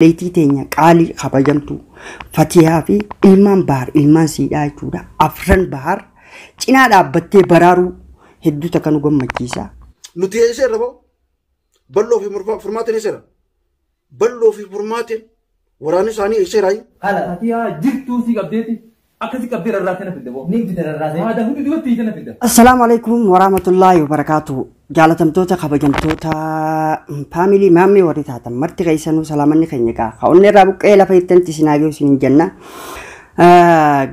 Obboleettii teenya qaalii kabajamtuu Fatiyaa fi ilmaan Bahar ilmaan siidhaa jechuudha. Afran Bahar cinaa dhaabbattee baraaruu hedduu takka nu gammachiisa. Nu teesseerra ba'u balloo fi furmaatiin eesseera. Balloo fi furmaatiin waraanni isaanii eesseeraayi. Ala Fatiyaa jirtuu sii qabdeeti. Akkasi qabdee rarraasee na fidda boo. Ni fida rarraasee. Haada hundi dubatti hiite na fidda. Assalaamu alaikum warahmatullaahi wabarakaatuhu. Jaalatamtoota kabajamtoota faamilii maammee warri taatan marti keessanuu salaamanni keenya gaa ka onnee irraa buqqee lafa ittanti isin haagee isin hin jenna.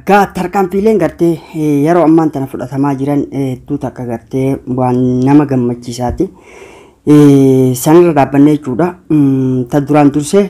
Gaa tarkaanfiileen gartee yeroo ammaan tana fudhatamaa jiran hedduu takka gartee waan nama gammachiisaati. Sanirra dhaabbannee jechuudha. Ta duraan dursee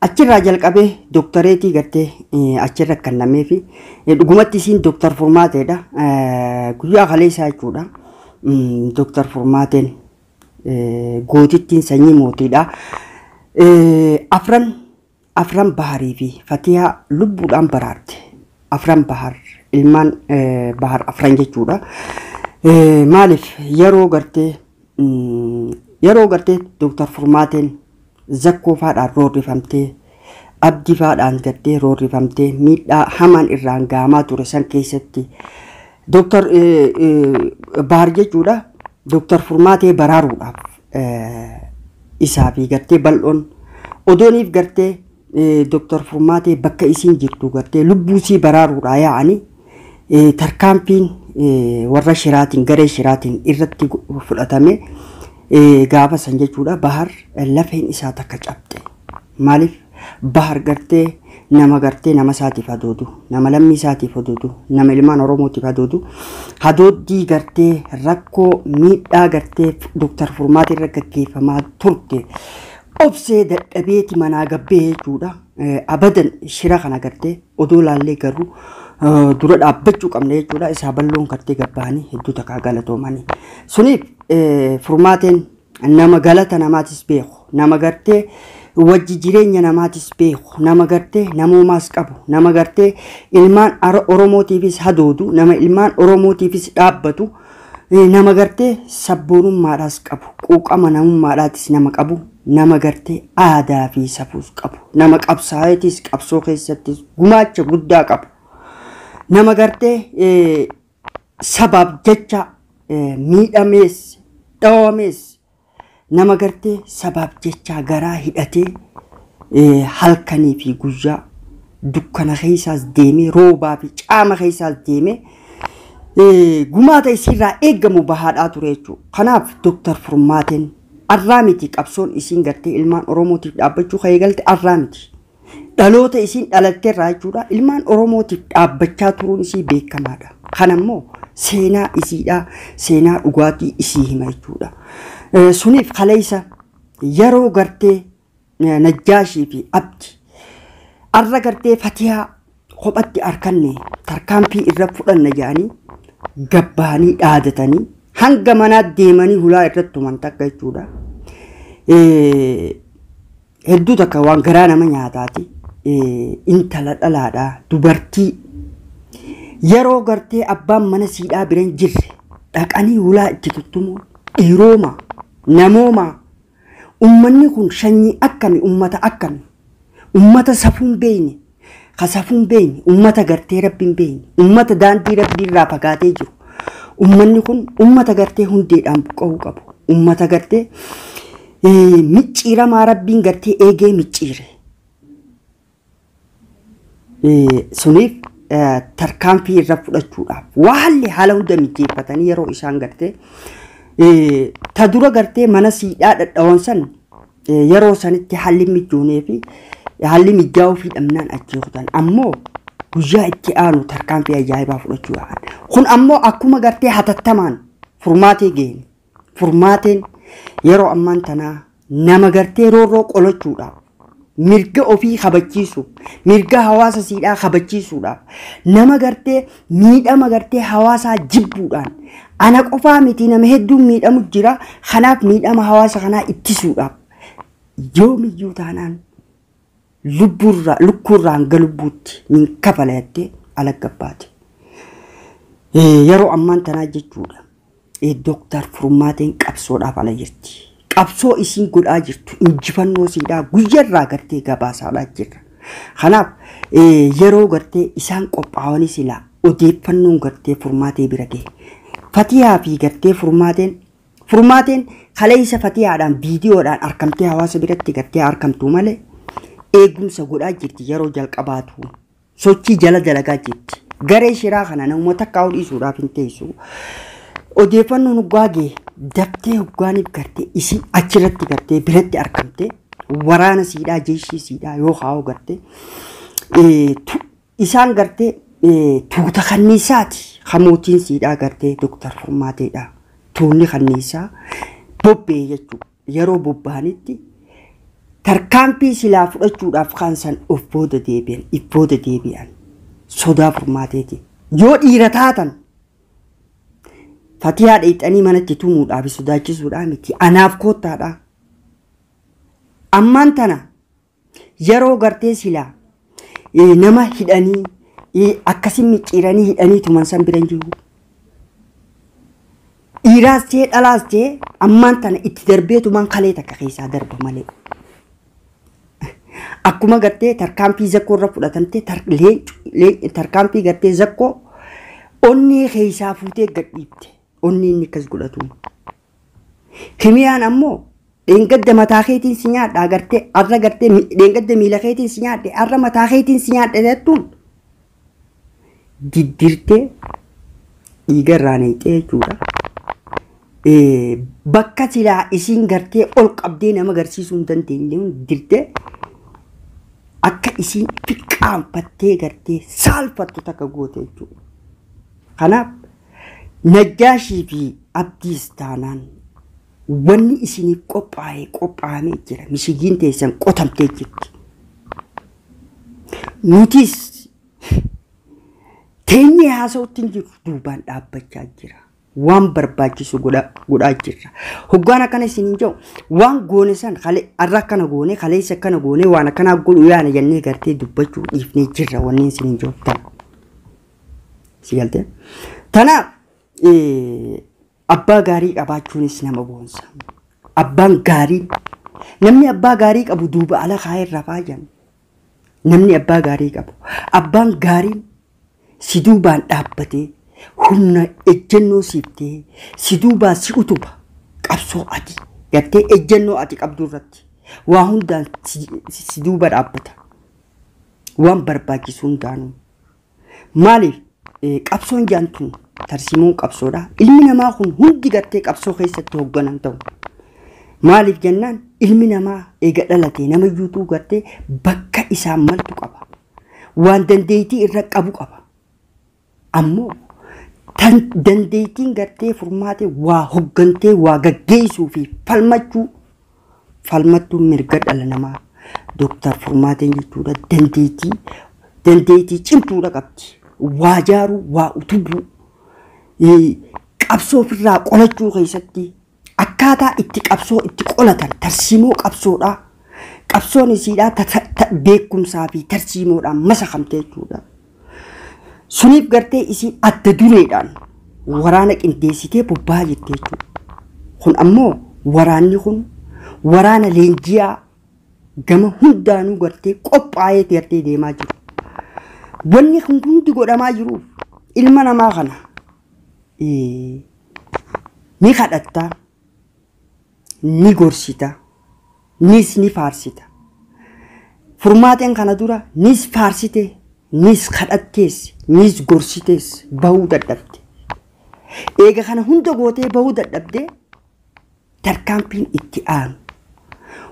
Achirraa jalqabee doktareetii gartee achirra kennameefi dhugumatti isiin doktar furmaateedha. Guyyaa kaleessaa jechuudha. Doktar furmaateen gootittiin sanyii mootiidha. Afran afran baharii fi fatiyaa lubbuudhaan baraarte. Afran bahar ilmaan bahar afran jechuudha. Maaliif yeroo gartee yeroo gartee doktar furmaateen Zakkoo faadhaan roorrifamtee, Abdi faadhaan gaddee roorrifamtee miidhaa hamaan irraan ga'amaa ture san keessatti Doktar Baar jechuudha Doktar Furmaatee baraaruudhaaf isaa fi gartee bal'oon odooniif gartee Doktar Furmaatee bakka isiin jirtu gartee lubbuusii baraaruudhaa yaa'anii Tarkaanfiin warra shiraatiin, garee shiraatiin irratti fudhatame gaafa san jechuudha Bahar lafeen isaa takka cabxe. Maaliif Bahar gartee nama gartee nama isaatiif hadoodu, nama lammii isaatiif hadoodu, nama ilmaan Oromootiif hadoodu, hadooddii gartee rakkoo miidhaa gartee Dooktar Furmaata irra gaggeeffamaa turte obsee dadhabeeti manaa gabbee jechuudha. Abadan shira kana gartee odoo laallee garuu dura dhaabbachuu qabna jechuudha. Isaa balloon kartee gabbahanii hedduu takkaa galatoomanii. Suniif furmaateen nama galata namaatis beeku nama gartee wajji jireenya namaatis beeku nama gartee namoomaas qabu nama gartee ilmaan Oromootiifis hadoodu nama ilmaan Oromootiifis dhaabbatu Nama gartee sabboonummaadhaas qabu, quuqama namummaadhaatis nama qabu, nama gartee aadaa fi safuus qabu, nama qabsaa'eetiis qabsoo keessattis gumaacha guddaa qabu, nama gartee sabaaf jecha miidhamees, dhawamees, Nama gartee sabaaf jechaa garaa hidhatee eh, halkanii fi guyyaa dukkana keessaas deemee roobaa fi caama keessaas deemee eh, gumaata isiirraa eegamu bahaadhaa ture jechuudha. Kanaaf Dooktar Furmaateen arraa miti qabsoon isiin gartee ilmaan Oromootiif dhaabbachuu kan eegalte arraa miti. Dhaloota isiin dhalatte irraa jechuudha ilmaan Oromootiif dhaabbachaa turuun isii beekamaadha. Kana immoo seenaa isiidhaa seenaa dhugaatii isii hima jechuudha. Eh, Suniif kaleessa yeroo gartee eh, Najjaashii fi Abdi arra gartee Fatiyaa kophatti arkanne tarkaanfii irra fudhanna jedhanii gabbaanii dhaadatanii hanga manaa deemanii hulaa irratti tuman takka jechuudha. Eh, Hedduu takka waan garaa nama nyaataati intala dhalaadha dubartii yeroo gartee abbaan mana siidhaa bira hin jirre dhaqanii hulaa itti tuttumuun dhiirooma namooma ummanni kun shanyii akkami ummata akkami ummata safuun beeyne ka safuu hin beekne, ummata gartee rabbi hin beekne, ummata daandii rabbii irraa fagaatee jiru. Ummanni kun ummata gartee hundeedhaan buqqa'uu qabu. Ummata gartee eh, micciiramaa rabbiin gartee eegee micciire. Eh, suniif eh, tarkaanfii irra fudhachuudhaaf waalli haala hunda mijeeffatanii yeroo isaan gartee eh, ta dura gartee mana siidhaa dhadhawan san Yeroo sanitti haalli mijoonee fi haalli mijaa'uu fi dhabnaan achii kutan ammoo guyyaa itti aanu tarkaanfii ajaa'ibaa fudhachuu yaa'an. Kun ammoo akkuma gartee hatattamaan furmaatee geenye. Furmaateen yeroo ammaan tanaa nama gartee roorroo qolachuudhaaf mirga ofii kabachiisuuf mirga hawaasa siidhaa kabachiisuudhaaf nama gartee miidhama gartee hawaasaa jibbuudhaan ana qofaa miti nama hedduun miidhamu jira kanaaf miidhama hawaasa kanaa ittisuudhaaf yoomiyyuu taanaan lubbuurraa lukkuurraa hanga lubbuutti nin kafala jettee alagga baate. Eh, Yeroo ammaan tanaa jechuudha. Dooktar Furmaateen qabsoodhaaf ala jirti. Qabsoo isiin godhaa jirtu injifannoo siidhaa guyyarraa gartee gabaasaadhaa jirra. Kanaaf yeroo gartee isaan qophaa'anii silaa odeeffannoon gartee furmaatee bira gahe. Fatiyaa fi gartee furmaateen furmaateen kaleessa fatiyaadhaan viidiyoodhaan arkamtee hawaasa biratti gartee arkamtu malee eegumsa godhaa jirti yeroo jalqabaatu. sochii jala dalagaa jirti. Garee shiraa kana namuma takkaa'uu dhiisuudhaaf hin teessu. Odeeffannoon hoggaa gee daftee hoggaaniif gartee isii achirratti gartee biratti argamte waraana siidhaa jeeshii siidhaa yoo kaa'uu gartee eh, tu- isaan gartee eh, tuuta kanniisaati kan mootiin siidhaa gartee Dooktar Furmaateedha. Tuunni kanniisaa bobbee jechuudha. yeroo bobba'anitti tarkaanfii silaa fudhachuudhaaf kaan san of booda deebi'an, if booda deebi'an sodaa furmaateetiin. Yoo dhiira taatan fatiyaa dheexanii manatti tumuudhaa fi sodaachisuudhaa miti. Anaaf koottaadhaa. Ammaan tana Yaroo gartee sila nama hidhanii akkasi micciiranii hidhanii tuman san bira hin jiru. Dhiiraas ta'e dhalaas ta'e ammaan tana itti darbee tuman kalee takka keessaa darba malee. Akkuma gartee tarkaanfii zakkoo irra fudhatamtee tarkaanfii gartee zakkoo onnee keessaa fuutee gadhiifte onnee inni akkas godhatuun. Kimiyaan ammoo dheengadda mataa keetiin si nyaadha agartee arra gartee mi- dheengadda miila keetiin si nyaadhe arra mataa keetiin si nyaadhe jettuun diddirtee dhiiga irraa neexxee jechuudha. Eh, Bakka silaa isiin gartee ol qabdee nama garsiisuu hin dandeenye dirtee akka isiin fiqqaanfattee gartee saalfattu takka goote jechuudha. Kanaaf Najjaashii fi Abdiis taanaan wanni isiniif qophaa'e qophaa'amee jira. Mishigiin teessan qotamtee jirti. Nutis teenyee haasa'utti hin jirru duubaan dhaabbachaa jira. Waan barbaachisu godha- godhaa jirra. Hoggaan akkana isin hin jedhu waan goone san kale- har'a akkana goone kaleessa akkana goone waan akkanaa godhu yaana jennee gartee dubbachuu dhiifnee jirra wanneen isin hin jedhu tana. Si galtee? Tanaaf eh, abbaa gaarii qabaachuunis nama boonsa. Abbaan gaarii namni abbaa gaarii qabu duuba ala kaa'ee irraa faayan. Namni abbaa gaarii qabu abbaan gaarii si duubaan dhaabbatee humna ejjennoo siif ta'ee si duubaan si utuba qabsoo ati gartee ejjennoo ati qabdu irratti waa hundaan si, si duuba dhaabbata. waan barbaachisu hundaanuu Maaliif qabsoon jaan tun tarsiimoon qabsoodha. Ilmi namaa kun hundi gartee qabsoo keessatti hogganan ta'u. Maaliif jennaan ilmi namaa eega dhalatee nama iyyuutuu gartee bakka isaan maltu qaba. Waan dandeettii irra qabu qaba. Ammoo tan dandeettiin gartee furmaatee waa hoggantee waa gaggeessuu fi falmachuu falmattuun mirga dhala namaa Dooktar Furmaateen jechuudha dandeettii dandeettii cimtuudha qabdi. Waa jaaruu, waa utubuu, qabsoo ofirraa qolachuu keessatti akkaataa itti qabsoo itti qolatan tarsiimoo qabsoodhaa qabsoon isiidhaa beekumsaa fi tarsiimoodhaan masakamte jechuudha. Suniif gartee isiin adda dureedhaan waraana qindeessitee bobba'aa jirti jechuudha. Kun ammoo waraanni kun waraana leenji'aa gama hundaanuu gartee qophaa'ee gartee deemaa jiru. Wanni kun hundi godhamaa jiru ilma namaa kana ni kadhattaa. ni gorsita, nis ni faarsita. Furmaateen kana dura nis faarsite, nis kadhattees, nis gorsitees bahuu dadhabde. Eega kana hunda gootee bahuu dadhabde tarkaanfiin itti aanu.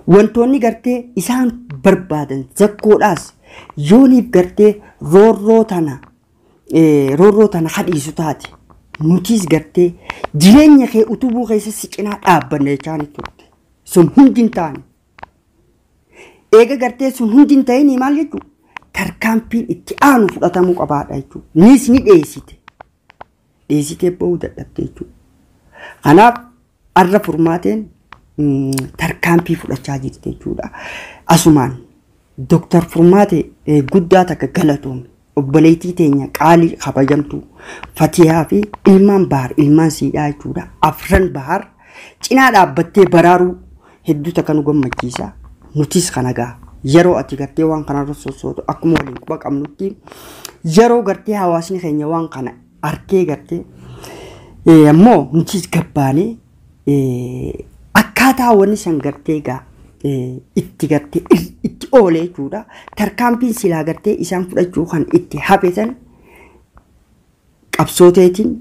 Wantoonni gartee isaan barbaadan zakkoodhaas yooniif gartee roorroo tana roorroo tana kadhiisu taate nutiis gartee jireenya kee utubuu keessa si cinaa dhaabbanna jechaan turte. Sun hundi hin taane. Eega gartee sun hundi hin ta'inii maal jechuudha? Tarkaanfiin itti aanu fudhatamuu qabaadha jechuudha. Niis ni dheessite. dheesitee ba'uu dadhabde jechuudha. Kanaaf har'a furmaateen mm, tarkaanfii fudhachaa jirti jechuudha. Asumaan Dooktar Furmaatee eh, guddaa takka galatoome. Obboleettii teenya qaalii kabajamtuu Fatiyaa fi ilmaan Bahar ilmaan siidhaa jechuudha. Afran Bahar Cinaa dhaabbattee baraaruu hedduu takka nu gammachiisa. Nutis kana gaa yeroo ati gartee waan kanarra sossootu akkuma waliin quba qabnutti yeroo gartee hawaasni keenya waan kana arkee gartee eh, ammoo nutis gabbaanee eh, akkaataa wanni san gartee gaa eh, itti gartee ir- itti oolee jechuudha. Tarkaanfiin silaa gartee isaan fudhachuu kan itti hafe san Qabsoo teetiin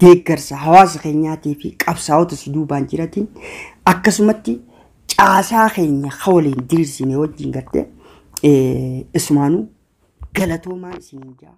deeggarsa hawaasa keenyaatii fi qabsaa'ota si duubaan jiratiin akkasumatti caasaa keenya ka waliin diriirsine wajjin gartee eh, isumaanuu galatoomaa isiniin jaa.